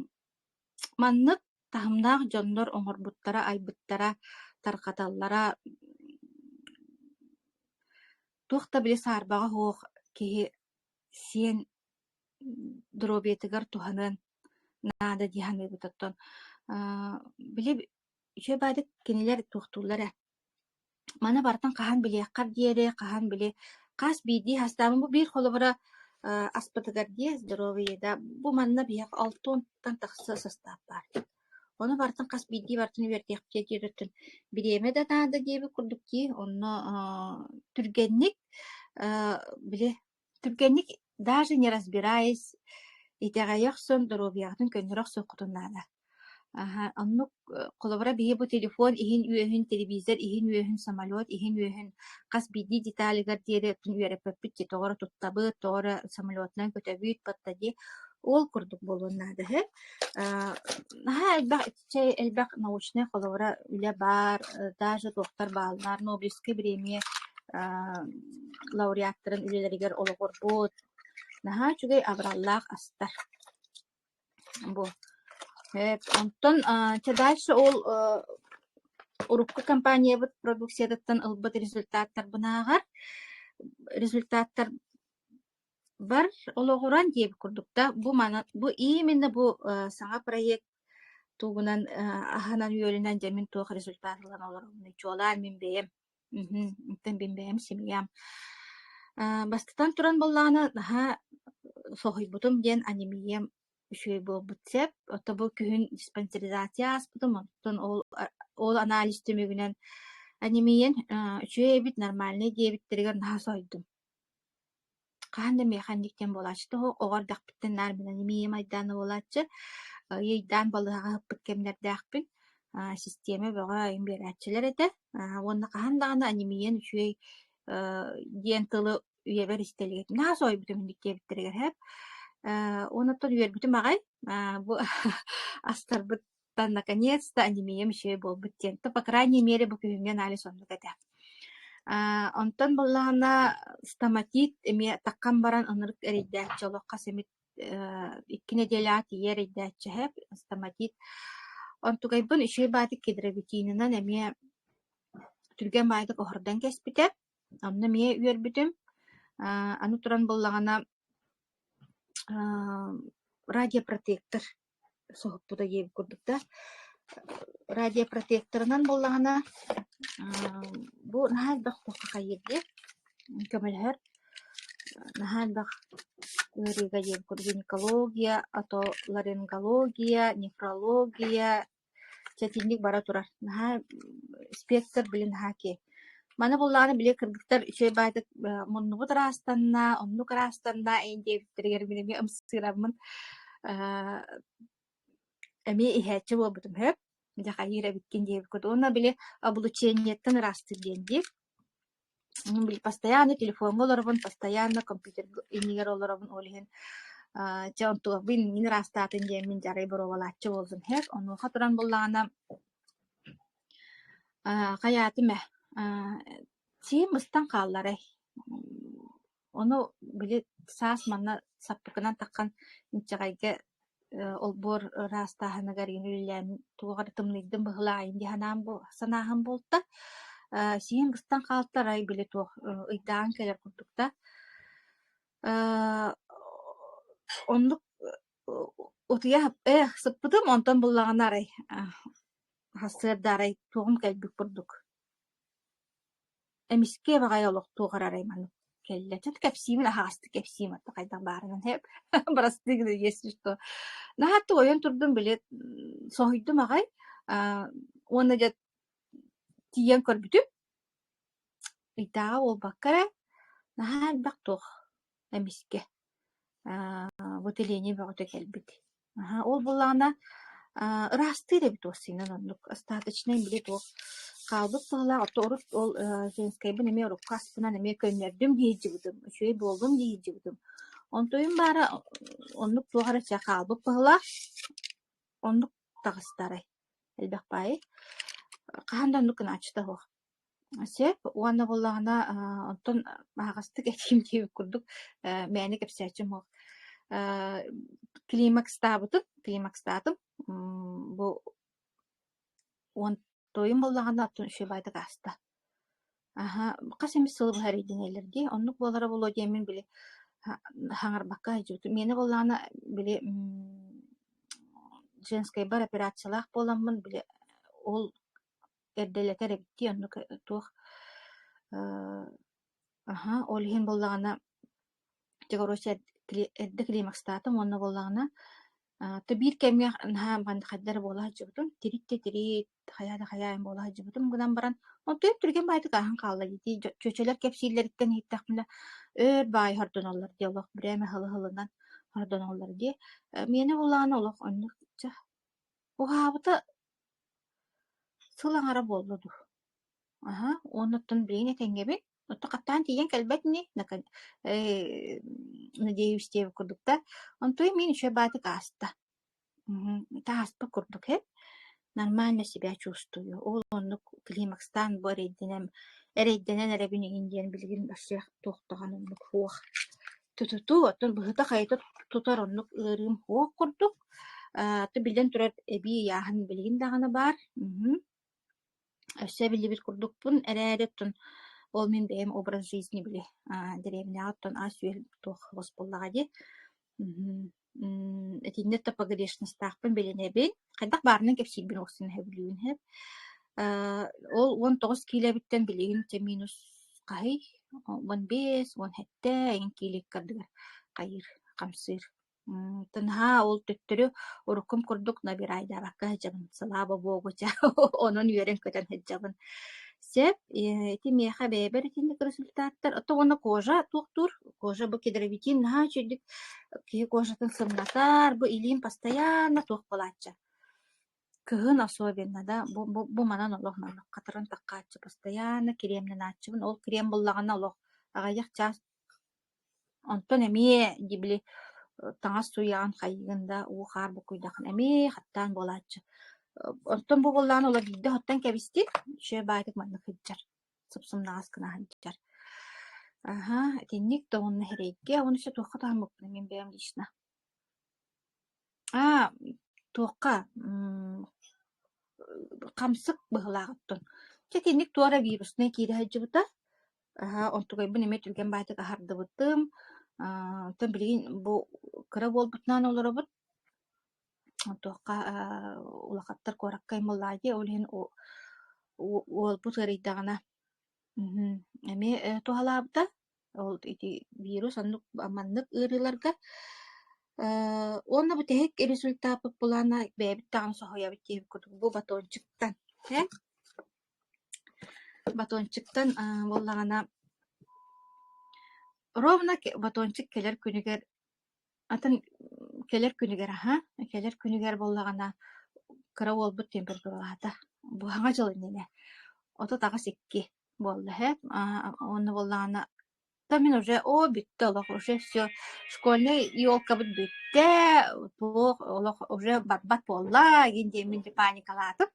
маннык таһымнаах дьоннор оҥорбуттара, айбыттара, тарҕаталлара туох да били саарбаҕа суох киһи сиэн доруобуйатыгар туһаныан наада дии саныыбыт. Оттон аа, били үчүгэй баадык кинилэр туохтууллар ээ. Маны барытын хаһан билиэххэр диэри, хаһан били хас биирдии хастаабын. Бу биир холобура э аспытыгар дии здоровье да, бу манна биһиэхэ алтыантан тахса састаап баар. Ону барытын хас биирдии барытын үөрдүөхпүтэ диэриттэн бириэмэ да наада диэбит курдук дии. Онно э түргэнник э били Түргэнник даже не разбираясь итэҕэйэ охсон доруобуйаҕытын көннөрө охсуоххутун наада. Аһа, оннук холобура биһи бу телефон иһин үөһүн, телевизор иһин үөһүн, самолет иһин үөһүн хас биирдии деталигар диэри үөрэппиппит дии, тоҕо эрэ туттабыт, тоҕо эрэ самолетунан көтөбүт, подтади. Ол курдук буолуон наада үһү. Ааа наһаа элбэх Чэй элбэх научнай холобура үлэ баар, даже туохтар бааллар, Нобелевскай премия аа лауреаттарын үлэлэригэр олоҕурбут. Наһаа үчүгэй абыраллаах астар бу. Эт, онтон аа чэ дальше ол аа урукку компаниябыт продукциятыттан ылбыт результаттарбынааҕар результаттар Бар олоҕуран диэбит курдук да, бу маны бу именно бу, э, саҥа проект тугунан, э, аһынан-үөлүнэн дьэммин туох результат ылан олоробунуй, чуолаан мин бэйэм, мгм, оттон мин бэйэм семьям. Э, бастатан туран буоллаҕына, наһаа соһуйбутум диэн анемиям үчүгэй буолбут сэп. Оттон бу күһүн диспансеризация ааспытым, оттон ол а ол анализ түмүгүнэн анемиен, э, үчүгэй эбит, нормальнай диэбиттэригэр наһаа соһуйдум. Хаһан да механик диэн буолааччы суох, оҕо эрдэхпиттэн наар билэн имиийим айдаана буолааччы. Иэйдээн балыыһаҕа ыыппыт кэмнэрдээхпин. Аа систиэмэ бөҕө биэрээччилэр этэ. Аа уонна хаһан даҕаны анемиен үчүгэй аа диэн тылы үйэбэр истэлигэтим. Наһаа соһуйбутум инник диэбиттэригэр эһэм. Ээ уонна оттон үөрбүтүм аҕай. Аа бу астарбыт Тан наконец-то анемиям еще и буолбут диэн. То, по крайней мере, бу күһүҥҥү анализ оннук этэ. Аа, онтон буоллаҕына стоматит эмиэ таххан баран ынырык эрэйдээччи олоххо сэмит э, икки нэдиэлэҕэ тиийэ эрэйдээччиһэ стоматит. Онтугайбын үчүгэй баатык кедровитинынан эмиэ түргэн баайдык оһордон кэспитэ. Онно эмиэ үөрбүтүм. Аа, аны туран буллаҕына радиопротектор соһуппута диэн курдук да радиопротекторынан буоллаҕына бу наһаа элбэх туохха хайыырдыыр көмөлөһөр наһаа элбэх ыарыыга диэн курдук гинекология отоларингология неврология Сэтинньик бара турар. Наһаа спектр, били наһаа окей. Маны буллаҕына били кыргыттар үчүгэй баайдык э, муннубут ыраастанна, оннук ыраастанна эн диэбиттэригэр мин эмиэ ымсыыраммын э, эмиэ иһээччи буолбутум сөп. Дьэ хайыыр эбиккин диэбиккин уонна били облучениеттан ыраастыыр диэн дии. Постоянно телефоҥҥа олоробун, постоянно компьютерга иннигэр олоробун. Ол иһин аа чэ онтугабын иннин ыраастаатын диэммин дьэ арай боруобалааччы буоллум һэт. Онуоха туран буоллаҕына аа хайаатым ээ аа сиһим быстан хаалларай Ону били саас манна саппыкынан таххан инчэҕэйгэ олбуор ыраастааһыныгар үлэлээн туох эрэ тымныйдым быһылаайым дии санаан санааһын буолта. Сиин быстан хаалтарай били туох ыйдаан кэлэр курдук да. Оннук утуйа эх сыппытым онтон буллаҕына арай сыарда арай туоҕум кэлбит курдук Эмискэ баҕайы олох туоҕар арай маннык кэллэ. Чэ кэпсиим аһаҕастык кэпсиим отто хайдах баарынан һэп бырастыы гына иэсчит дуо. Наһаа туойан турдум били м соһуйдум аҕай аа уонна дьэ тиийэн көрбүтүм ыйдааҕа буолбакка эрэ наһаа элбэх туох эмискэ бу тэлиэни бөҕөтө кэлбит аһа ол буоллаҕына ыраастыыр эбит уоссайынан оннук остаточнай били туох хаалбыт сыалаах оттон урут ол женскэйбин эмиэ урукку астынан эмиэ көннөрдүм диэйдьибитим үчүгэй буолдум диэйдьибитим онтуйум баара оннук туох эрэ чэ хаалбыт быһылаах оннук таҕыстарай элбэх баайы хаһан да оннук гынааччыта суох Сөп уонна буоллаҕына, аа, онтон аһаҕастык этиим диэбит курдук, э, мээнэ кэпсээччим суох. Э, климакстаабытын, климакстаатым. М, бу уон туойум буоллаҕына, оттон үчүгэй баайдык ааста. Аһа, хас эмит сылы быһа эрийдинэлэр дии. Оннук буолара буолуо диэн мин били ха- хаҥарбакка айдьыытым. Миэнэ буоллаҕына, били м, женскэй бар операциялаах буоламмын, били ол эрдэлэтэр эбиттии оннук туох аха ол иһин буоллаҕына дьэ короче эрдэ климакстаатым уонна буоллаҕына то биир кэмҥэ наһаа маннык хайда эрэ буола сылдьыбытым тиритти тирит хайаа да хайаа эн буола сылдьыбытым гынан баран онтон түргэн баайдык ааһан хаалла дии чүөчэлэр кэпсииллэриттэн иһиттэхпинэ өр баай хордонуллар дии олох брэме һылы һылынан хордонуллар дии миэнэ буоллаҕына олох оннук дьэ уһаабыта Сыл аҥара буолла дуу, аһа, уонна оттон билигин этэҥҥэбин, оттон хаттаан тиийэн кэлбэт ини, э надеюсь-тиэбит курдук да, онтуй мин үчүгэй баатык ааста. Мм ааспат курдук эһ, нормально себя чувствую, ол оннук климакстаан бу эрэйдэнэн эрэйдэнэн эрэбин игин диэн билигин барсыах туох даҕаны оннук суох Тутутуу, оттон быһыта-хайата тутар оннук ыарыым суох курдук. Э, биллэн турар, эбии ыйааһын билигин даҕаны баар. Мгм. Өссө биллибит курдукпун эрээри, оттон ол мин бэйэм образ жизни били, а, дэриэбинэҕэ оттон ас-үөл туох-хос буоллаҕа дии. Мгм. М, итиннэ то погрешностаахпын билинэбин. Хайдах баарынан кэпсиирбин охсон сөбүлүүн сөп. Э, ол 19 киилэбиттэн билигин те минус хаһый, он бес, он сэттэ эҥин кииликкардыгар хайыыр, хамсыыр. М, тынаһаа ол төттөрү уруккум курдук набирайдаабакка сылаба богуча онон үөрэн көтөн сылдьабын. сөп. Ити миэхэ бэйэбэр итинник результаттар. Оттон уонна кожа туохтуур? Кожа бу кедровитин наһаа үчүгдүк киһи кожатын сымнатар, бу илиим постоянно туох булааччы. Кыһын особенно да бу бу, бу манан олох маннык хатыран таккааччы постоянно кремненааччыбын. Ол крем буллаҕына олох аҕыйах чаас Онтон эмиэ дьибили таҥас сууйаҕын хайыгын да уу-хаар буккуйдаххына эмиэ хаттаан буолааччы. Оттон бу буоллаҕына олор биирдэ оттон кэбистин, сүө баайытык маннык сылдьар, сыпсымнаҕас гынаһын сытар. Аһа, итинник да уонна эрэйгэ уонна ise туохха таһыммыппыный мин бэйэм лично? Аа, туохха? М- хамсык быһыылаах оттон. Чэ итинник туора вирусная киирэ сылдьыбыта. Аһа, онтугайбын эмиэ түргэн баайтык аһардыбытым. Аа, оттон билигин бу кыра буолбутунан олоробут. Онтуохха аа улахаттар куоракка аймыллаайы, ол иһин у у уолбут ыарыйдаҕына мхм эмиэ э, туһалаабыта. Ол ити вирус оннук маннык ыарыыларга Э, уонна бу тэһик результаппыт булаана бэйэбит даҕаны соһуйабыт диэбит курдук бу батончиктан. Һэ? Батончиктан буоллаҕына ровно батончик кэлэр күнүгэр атын кэлэр күнүгэр аһа кэлэр күнүгэр буоллаҕына кыра уолбут температуралаата быһаҕа дьыл иннинэ отут аҕыс икки буолла үһү уонна буоллаҕына Да мин уже, оо, бүттэ олох, уже все, школьнай елкабыт бүттэ, туох олох уже барбат буолла, игин диэммин дьэ паникалаатым,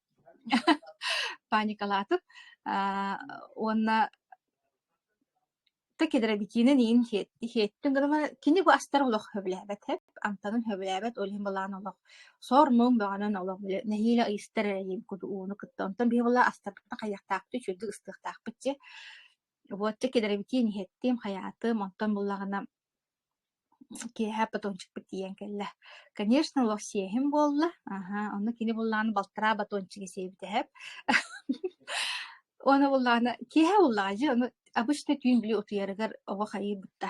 паникалаатым, аа, уонна да кэдэрабикиинэн иин иһиэттим гынан кини бу астар олох хөбүлээбэт эп амтанын хөбүлээбэт ол иһин былаан олох сор-муҥ бөҕөнөн олох нэһиилэ ыйыстар эрэ диэн куду ууну кытта онтон биһи була астарбыта хайыахтаахпыт үчүгдүк ыстыахтаахпыт дьэ Уотча кэдэрэбитиин иһиттим, хайаатым, онтон буллаҕына киэһэ батончикпыт тиийэн кэллэ. Конечно, олох сиэһим буолла. Аһа, онно кини буллаҕына балтараа батончига сиэбит эһэм. Уона буллаҕына киэһэ буллаҕа дии, ону обычно түүн били утуйарыгар оҕо хайыйбыта.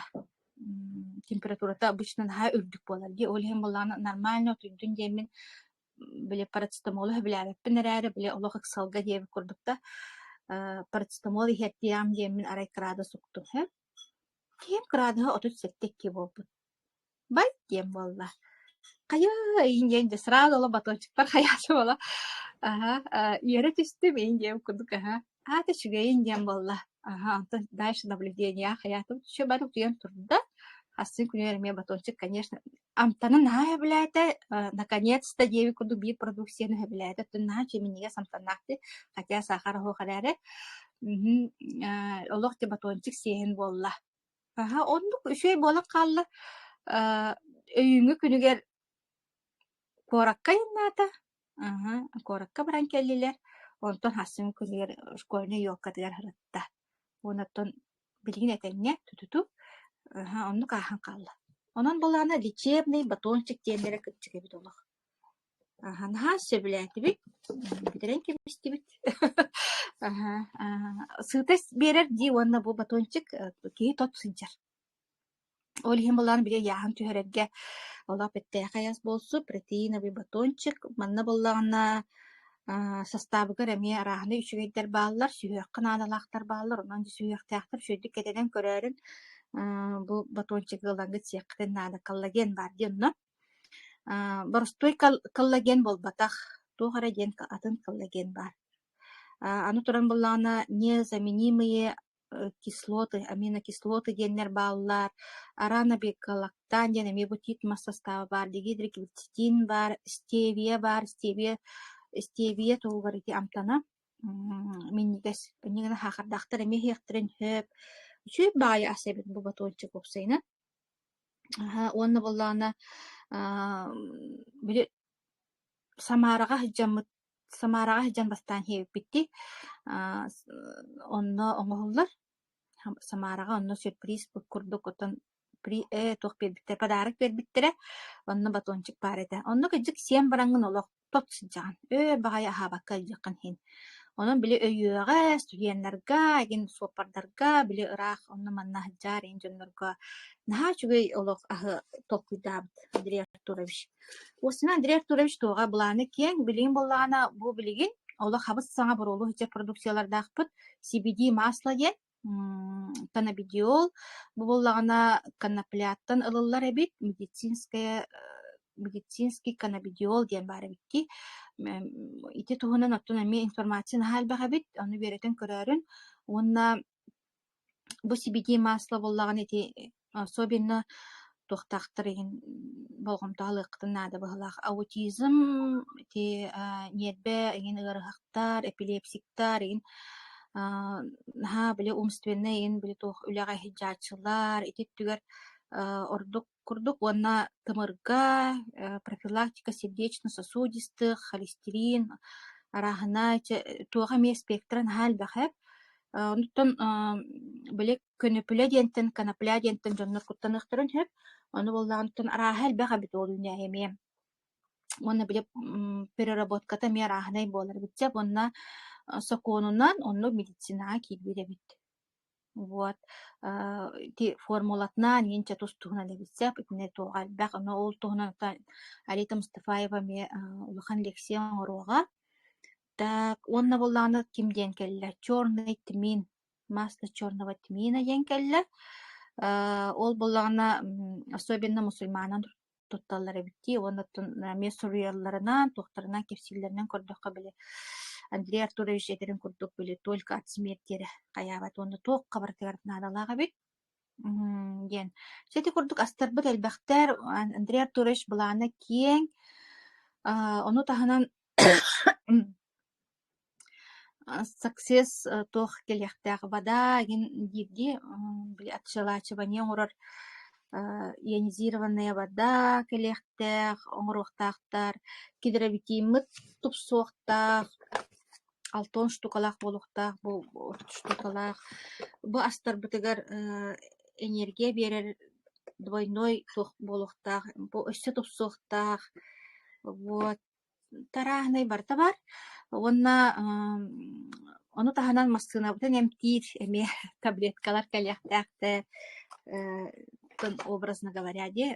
М, температурата обычно наһаа үрдүк буолар дии. Ол иһин буллаҕына нормально утуйдун диэммин били парацетамолу сөбүлээбэппин эрээри, били олох ыксалга диэбит курдук да, э, парацетамол иһиэттиэм диэммин арай кыраадыс уктуһэ. Киһим кыраадыһа отут сэттэ икки буолбут. Бай диэн буолла. Хайа иһин диэн дьэ сразу оло батончиктар хайаача буола. Аһа, э, үөрэ түстүм иһин диэм курдук аһа. аата үчүгэйин диэн буолла аха онтон дальше наблюдения хаятым түшө бары утуйан турда хассын күнүгэр эмиэ батончик конечно амтаны наһаа өбүлээтэ наконец-то диэби курдук биир продукцияны өбүлээтэ оттон наһаа чиминигес амтаннаахты хотя сахар оһох эрээри олох ти батончик сиэһин буолла аха оннук үчүгэй буолан хаалла өйүҥҥү күнүгэр куоракка айаннаата Аһа, куоракка баран кэллилэр. Онтон Хасым кылыар школьнай ёлкатыгар сырытта. Уонна оттон билигин этэҥҥэ тутуту, аһа, оннук ааһан хаалла. Онон былаана лечебный батончик тиэндэрэ кырдьык эбит олох. Аһа, наһаа сөбүлээтибит, бүтэрэн кэбистибит. Аһа, аа, сытость биэрэр дии уонна бу батончик, киһи тот сылдьар. Ол иһин былаан били ыйааһын түһэрэргэ олох бэртээхэй ас буолсу, протеиновый батончик. Манна буоллаҕына аа састаабыгар эмиэ арааһынай үчүгэйдэр бааллар, сүһүөххэ наадалаахтар бааллар. Онон сүһүөхтээхтэр үчүгэйдик кэтэнэн көрөөрүн аа бу батончигы ылаҥҥыт сиэххитин наада. Коллаген баар дии онно. Аа боростуой кол- коллаген буолбатах. Туох эрэ диэн атын коллаген баар. Аа аны туран буоллаҕына незаменимые кислоты, аминокислоты диэннэр бааллар, араан абекалактан диэн эмиэ бу тиит мас састааба баар, дигидриглицетин баар, стевия баар, стевия, стевия туһугар ити амтана минньигэс, инньэ гынан хаахардаахтар эмиэ иһиэхтэрин сөп. Үчүгэй баайа ас эбит бу батончик уопсайынан. Аһа, уонна буоллаҕына, аа, били Самараҕа сылдьаммыт Самараҕа сылдьан бастаан иһиппиттии аа онно оҥоһуллар. Самараҕа онно сюрприз курдук оттон ээ туох биэрбиттэрэ подарок биэрбиттэрэ. Онно батончик баар этэ. Онно кырдьык сиэн бараҥҥын олох тот сылдьаҕын. «Ээ баҕайы аһаабакка илдьиэххин иһин». Онон били өйүөҕэ, студеннарга, игин суоппардарга били ыраах онно манна сылдьаар эн дьоннорго наһаа үчүгэй олох аһы толкуйдаабыт Андрей Артурович. Костина Андрей Артурович туоҕа былааны киэҥ, билигин буоллаҕына бу билигин олох хабыс саҥа буруолу сылдьар продукциялардаахпыт CBD масло диэн каннабидиол бу буоллаҕына каннапляттан ылыллар эбит медицинская медицинский каннабидиол диэн баар эбикки ити туһунан оттон эмиэ информация наһаа элбэх эбит ону үөрэтэн көрөөрүн уонна Бу сибидиэй масло буоллаҕына ити особенно туохтаахтар иһин болҕомто ылыаххытын наада быһылаах. Аутизм ити ньиэрбэ иһин ыарыһахтар, эпилепсиктар иһин аа наһаа били умственнай иһин били туох үлэҕэ иһит дьааччылар ити өттүгэр ордук курдук уонна тымырга э, профилактика сердечно-сосудистых, холестерин, арааһынай, туох эмиэ спектра наһаа элбэхэр. Онтон били көнөпүлэ диэнтэн, конопля диэнтэн дьоннор куттаныахтарын сөп. Ону буоллаҕыттан арааһа элбэх эбит ол үүнээйи эмиэ. Уонна били переработката эмиэ арааһынай буолар эбит уонна сокуонунан онно медицинаҕа киирбит эбит. Вот, аа, ити формулатынан иһинчэ тус-туһунан эбитсэп, итини туоҕа элбэх, но ол туһунан та Арита Мустафаева эмиэ аа, улахан лекция оҥоруоҕа. Так, уонна буоллаҕына ким диэн кэллэ? Черный тмин, масло черного тмина диэн кэллэ. Аа, ол буоллаҕына м, особенно мусульманын тутталлар эбит дии уонна эмиэ суруйалларынан, туохтарынан кэпсииллэринэн көрдөххө били Андрей Артурович этэрин курдук били только от смерти эрэ хайаабат уонна туох хабарытыгар наадалаах эбит диэн. Чэ ити курдук астарбыт элбэхтэр. Андрей Артурович былаана киэҥ. Ону таһынан Саксес туох кэлиэхтээх вода игин диирдии били отчелачивание оҥорор ионизированная вода кэлиэхтээх оҥоруохтаахтар гидроветиммыт тупсуохтаах алтон штукалаах буолуохтаах бу штукалаах бу астарбытыгар энергия биэрэр двойной туох буолуохтаах бу өссө тупсуохтаах вот Тарааһынай барыта баар уонна ам ону таһынан массыынабытын эмтиир эмиэ таблеткалар кэлиэхтээхтэр э образно говоря диэ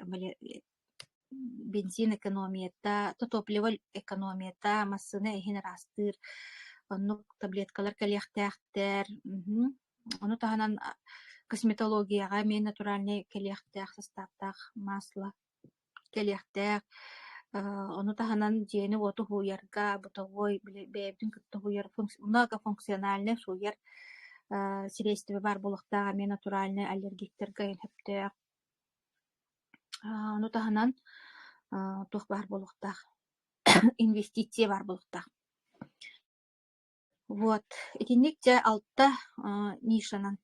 бензин экономията топливо экономията массыына иһин ыраастыыр оннук таблеткалар кэлиэхтээхтэр мхм ону таһынан косметологияҕа эмиэ натуральнай кэлиэхтээх састааптаах масло кэлиэхтээх. Э, ону таһынан дьиэни-уоту уһуйарга, бытовой, били бэйэбитин кытта уһуйар функс многофункциональнай уһуйар э, сириэстибэ баар буолуохтаах эмиэ натуральнай аллергиктарга сөптөөх. Э, ону таһынан э, туох баар буолуохтаах, инвестиция баар буолуохтаах. Вот, итинник дьэ алта аа нишанан,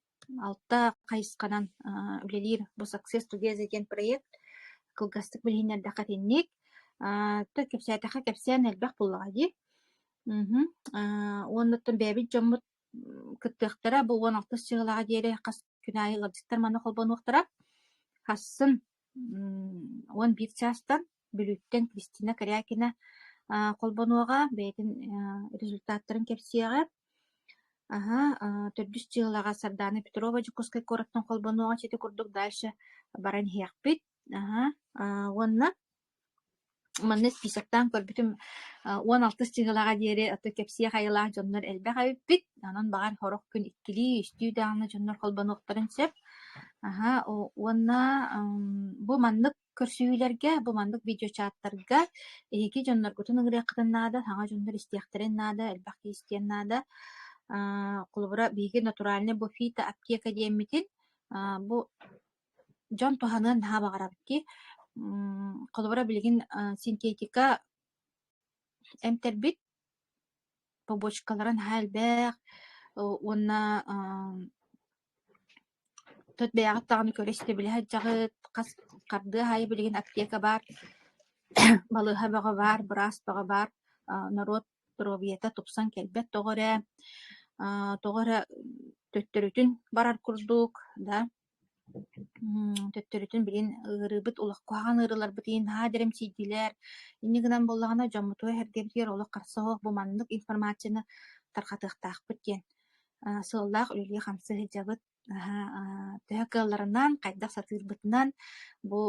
алта хайысханан аа үлэлиир бу Success Together диэн проект кылгастык билиһиннэрдэххэ итинник. Аа то кэпсээтэххэ кэпсээн элбэх буоллаҕа дии. Мгм. Аа уоннаттан бэйэбит дьоммут м, кыттыахтара бу уон алтыс сыллааҕа диэри хас күн аайы ыалдьыттар манна холбонуохтара. Хассын м, уон биир чаастан Бүлүүттэн Кристина Корякина холбонуоҕа, бэйэтин результаттарын кэпсиэҕэ. Аһа, төрдүс дьыалаҕа Сардаана Петрова Дьокуускай куораттан холбонуоҕа сити курдук дальше баран иһиэхпит. Аһа, уонна манна списоктаан көрбүтүм уон алтыс дьыалаҕа диэри кэпсиэ хайалаах дьоннор элбэх эбиппит. Онон баҕар сорох күн иккилии-үстүү даҕаны дьоннор холбонуохтарын сөп. Аһа, уонна бу маннык Көрсүһүүлэргэ бу маннык видеочааттарга эһиги дьонноргутун ыҥырыаххытын наада, саҥа дьоннор истиэхтэрин наада, элбэх киһи истиэн наада. Аа, холобура, биһиги натуральный буфета аптека диэммитин, аа, бу дьон туһаныан наһаа баҕарабыт дии. М, холобура, билигин, а, синтетика эмтэрбит побочкалара наһаа элбэх, о уонна, а, Тут бэйэҕит даҕаны көрө истэбилэ сылдьаҕыт, хас хардыы аайы билигин аптека баар, балыыһа бөҕө баар, быраас бөҕө баар, аа норуот доруобуйата тупсан кэлбэт тоҕо эрэ, аа тоҕо эрэ төттөрүтүн барар курдук да мм төттөрүтүн билигин ыарыыбыт олох куһаҕан ыарыыларбыт иһин наһаа дэрэмсийдилэр. Инньэ гынан буоллаҕына дьоммутугар-сэргэбитигэр олох харса суох бу маннык информацияны тарҕатыахтаахпыт диэн Сыаллаах үлэлии-хамсыы сылдьабыт. Наһаа төһө кыалларынан, хайдах сатыырбытынан, бу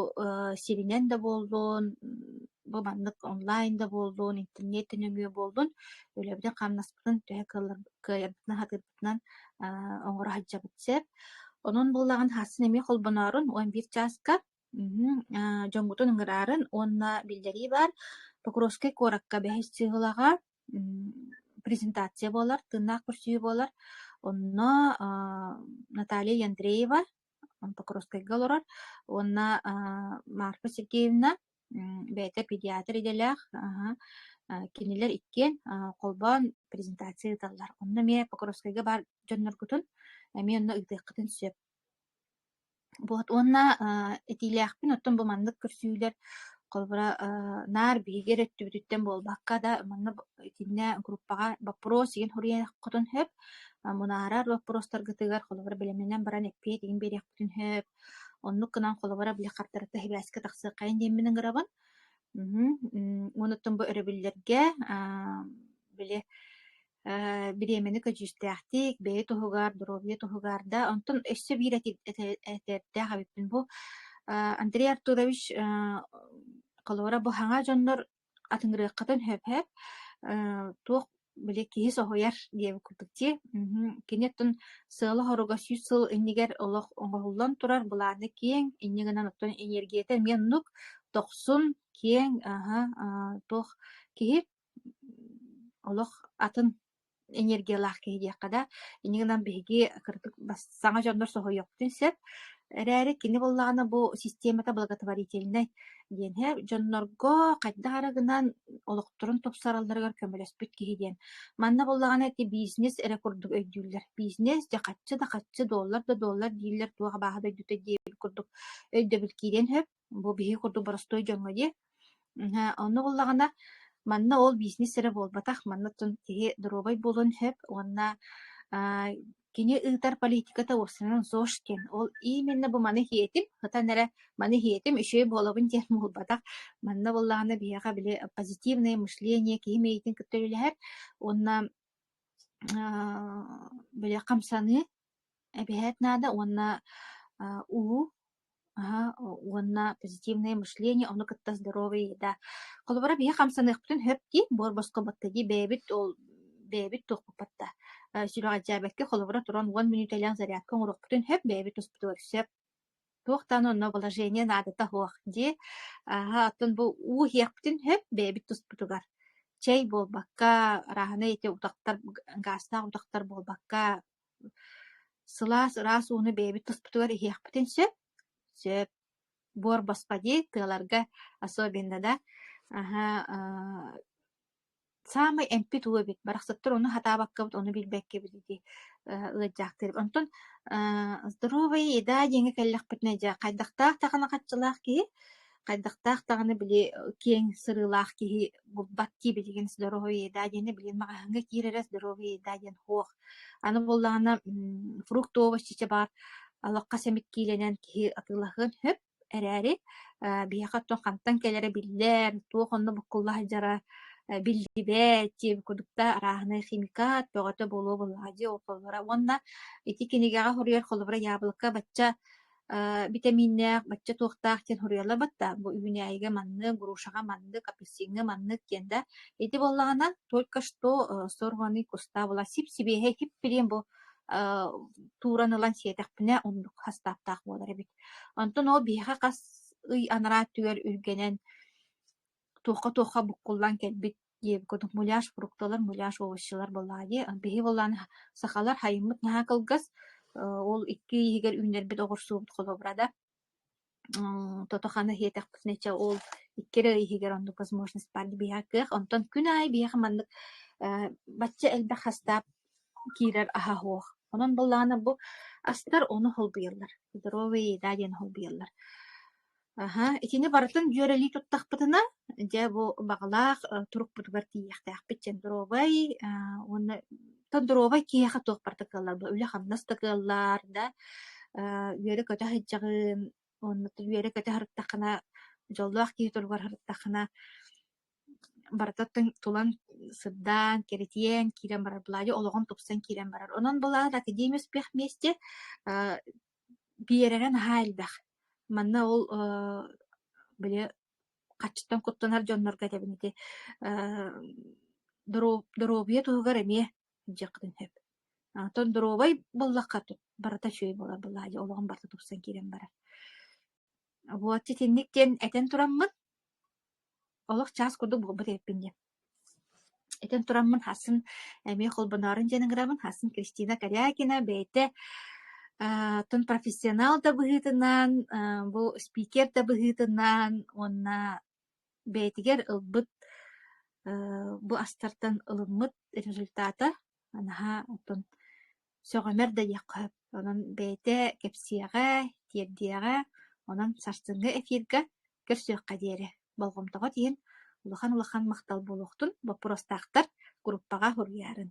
сиринэн да буоллун, бу маннык онлайн да буоллун, интернеттэн нөҥүө буоллун, үлэбитин-хамнаспытын төһө кыайарбытынан, сатыырбытынан оҥоро сылдьабыт сөп. Онон буоллаҕын хасын эмиэ холбоноорун он биир чааска дьоҥҥутун ыҥыраарын уонна биллэрии баар Покровскай куоракка бэһис сыһылаҕа презентация буолар, тыыннаах көрсүһүү буолар. Онно Наталья Яндреева Покровскайга олорор уонна Марфа Сергеевна бэйэтэ педиатр идэлээх кинилэр иккиэн холбоон презентация ыыталлар. Онно эмиэ Покровскайга баар дьонноргутун эмиэ онно ыытыаххытын сөп. Вот уонна, э, этиилээхпин, оттон бу маннык көрсүүлэр холобура, э, наар биһиги эрэ өттүбүтүттэн буолбакка да, манна б итиннэ группаҕа боппуруос иһин хуруйан хотун сөп, а мунаарар боппуруостаргытыгар холобура бэлэмнэнэн баран эппиэт иһин биэриэхпитин сөп. Оннук гынан холобура били хартарыта ХИБээскэ тахсыаххайын диэммин ыҥырабын. Мгм. М, уонуттан бу өрөбүллэргэ, а, били Э, бириэмэни көдьүүстээхтик, бэйэ туһугар, доруобуйа туһугар да, онтон өссө биир эти- эте- этэрдээх эбиппин бу э, Андрей Артурович э, холуора бу саҥа дьоннор атыҥырыаххытын сөп-сөп, э, туох били киһи соһуйар диэбит курдук дии. Мгм. Кини оттон сыала-соруга сүүс сыл иннигэр олох оҥоһуллан турар былааны киэҥ, инньэ гынан оттон эниэргийэтэ эмиэ оннук, дохсун, киэҥ, аһа, а, туох киһи олох атын энергиялаах киһи диэххэ да инньэ гынан биһиги кырдык бас саҥа дьоннор соһуйуохпутун сөп эрээри кини буоллаҕына бу системата благотворительнай диэн иһэ дьоннорго хайдах эрэ гынан олохторун тупсаралларыгар көмөлөспүт киһи диэн манна буоллаҕына ити бизнес эрэ курдук өйдүүллэр бизнес дьэ хаччы да хаччы доллар да доллар дииллэр туох абааһы дойдута диэбит курдук өйдөбүл киириэн сөп бу биһиги курдук боростуой дьоҥҥо дии. Онно буоллаҕына, манна ол бизнес эрэ буолбатах, манна дьон киһи доруобай буолуон сөп уонна аа, кини ыытар политиката уопсанан ЗОЖ диэн. Ол именно бу маны иһиэтим, ытан эрэ маны иһиэтим, үчүгэй буолабын диэн буолбатах. Манна буоллаҕына биһиэхэ били позитивное мышление киһи миэйитин кытта үлэлэһэр уонна аа, били хамсаныы Эбэһээт наада уонна аа улуу аһа уонна позитивное мышление ону кытта здоровый да холобура биһи хамсаныахпытын сөп дии буор босхо батта дии бэйэбит ол бэйэбит туохпуппат да сүрэҕэлдьээбэккэ холобура туран уон мүнүүтэлээх зарядка оҥоруохпутун сөп бэйэбит туспутугар сөп туох даҕаны онно вложение наадата суох дии аһа оттон бу уу иһиэхпитин сөп бэйэбит туспутугар чэй буолбакка арааһынай эти утахтар гаастаах утахтар буолбакка сылаас ыраас ууну бэйэбит туспутугар иһиэхпитин сөп сөп буор босхо дии тыаларга особенно да аһа саамай эмпит уо эбит, барахсаттар ону сатаабаккабыт, ону билбэккэбит дии э ыалдьаахтыыр. Онтон э здоровая еда диэҥҥэ кэллэхпитинэ дьэ хайдахтаах даҕаны хаччылаах киһи, хайдахтаах даҕаны били киэҥ сырыылаах киһи булбат дии билигин здоровая еда диэни билигин маҕаһыыҥҥа киирэрэ здоровая еда диэн суох. Аны буоллаҕына м фрукт, овощ чичэ баар алахха сэмик киилэнэн киһи атыылаһыан сөп. эрээри, э, биһиэхэ оттон хантан кэлэрэ биллэр, туох онно буккулла сылдьара э, биллибэт, диэн курдук да арааһынай химика, бөҕөтө буолуо буоллаҕа дии олохтоллоро. Уонна ити кинигэҕэ хоруйар холобура яблоко бачча э, битэмииннээх, бачча туохтаах диэн хоруйаллабыт да, бу үүнээйигэ маннык, грушаҕа маннык, апельсиҥҥа маннык диэн да. Ити буоллаҕына, только что э, сорванный куста была сип-сибиэһэй, сип-сип бу э, тууран ылан сиэтэхпинэ, оннук хастааптаах буолар эбит. Онтон ол биһиэхэ хас ый анараа өттүгэр үргэнэн туохха-туохха буккуллан кэлбит диэбит курдук муляж фрукталар, муляж овощелар буоллаҕа дии. Биһиги буоллаҕына сахалар хайыммыт наһаа кылгас. ол икки иһигэр үүннэрбит оҕурсуубут холобурада. тото-хана иһиэтэхпитинэ ол икки эрэ иһигэр оннук возможность баар дии биһиэхэ кыах. Онтон күн аайы биһиэхэ маннык бачча элбэх хастаап киирэр аһа суох. Онон буоллаҕына бу астар ону холбуйаллар. Здоровый еда диэн холбуйаллар. Аһа, итини барытын дьүөрэлии туттахпытына, дьэ бу баҕалаах э, турукпутугар тиийиэхтээхпит чендровай э, уонна тондуровай киһиэхэ туох барыта кыаллар бу үлэ-хамнас да кыаллар да э, үөрэ-көтө сылдьаҕын уонна үөрэ-көтө сырыттаххына дьоллоох киһи туругар сырыттаххына барыта тулан сырдаан, кэритиэн, киирэн барар былаадьа олоҕум тупсан киирэн барар. Онон былаан академия успех вместе э, биэрэрэ наһаа элбэх. Манна ол э, били хаччыттан куттанар дьоннорго этэбин ити э, доруобуйа туһугар эмиэ дьиэххитин сөп. Оттон доруобай буллахха барыта үчүгэй буолар былаадьа олоҕум барыта тупсан киирэн барар. Вот итинник диэн этэн тураммын Олох чаас курдук буолбут эбиппин диэн. Итин тураммын хасын эмиэ холбоноорун диэн ыҥыраммын хасын Кристина Корякина бэйэтэ аа тун профессионал да быһыытынан аа бу спикер да быһыытынан уонна бэйэтигэр ылбыт аа бу астартан ылыммыт результата наһаа оттон сөҕүмэр да диэххэ сөп. Онон бэйэтэ кэпсиэҕэ, тиэрдиэҕэ, онон сарсыҥҥы эфирга көрсүөххэ диэри болҕомтоҕут иһин улахан-улахан махтал буолуохтун боппуруостаахтар группаҕа суруйарын.